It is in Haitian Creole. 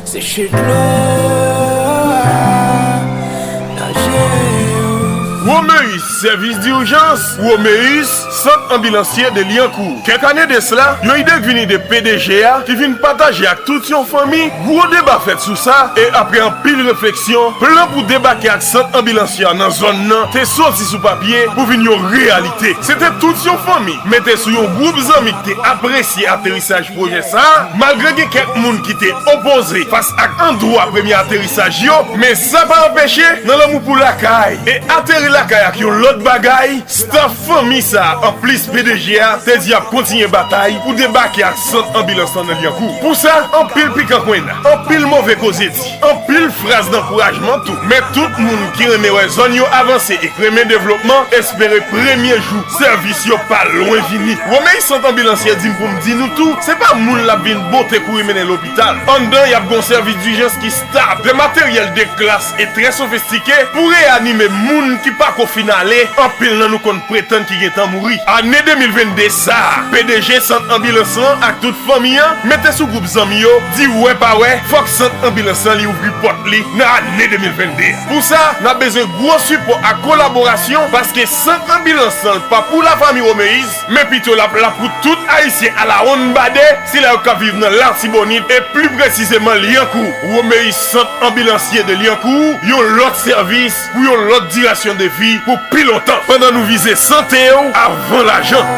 Seche dlo nan je yo. Romeus, Sèvis Dirjans, Romeus, Sant Anbilansye de Liancourt. Kèk ane de sla, yon ide k vin ide pdg a ki vin pataje ak tout yon fanmi, gwo deba fèt sou sa e aprè anpil refleksyon, plan pou debake ak sant anbilansye a nan zòn nan te soti sou papye pou vin yon reyalite. Se te tout yon fanmi, mete sou yon gwoup zanmi k te apresye aterisaj. Pwojè sa, malgre gen kèk moun ki te opoze fas ak andwa premye aterisaj yo, men sa pa anpeche nan lanmou pou lakay e ateri lakay ak yon lòt bagay staff fanmi sa anplis pdg a te di ap kontinye batay pou debake ak sant anbilans lan nan Lyankou pou sa anpil pikan kwenna anpil move koze di. Anpil fraz dankourajman tou. Men tout moun ki renmen wè zòn yo avanse e k renmen devlopman espere premye jou sèvis yo pa lwen vini. Romeis sant anbilansye di m pou m di nou tou se pa moun l ap vin bote kouri mennen lopital. Anndan y ap gon sèvis dijans ki stab, de materyèl de klas e trè sofistike pou reyanime moun ki pa ko fin ale, anpil nan nou konn pretann ki gentan mouri. Ane 2022 sa a, pdg sant anbilans lan ak tout fanmi an mete sou gwoup zanmi yo Di wè pa wè, fòk sant anbilans lan li ouvri pòt li nan ane 2022 a. Pou sa, n ap bezwen gwo sipò ak kolaborasyon paske sant anbilans lan pa pou lafami Romeiz, men pito l ap la pou tout Ayisyen alawonnbadè, sila yo k ap viv nan Latibonit e pli presizeman Lyankou. Romeiz Sant Anbilansye de Liancourt, yon lòt sèvis pou yon lòt dirasyon de vi pou pi lontan, pandan nou vize sante w avan lajan.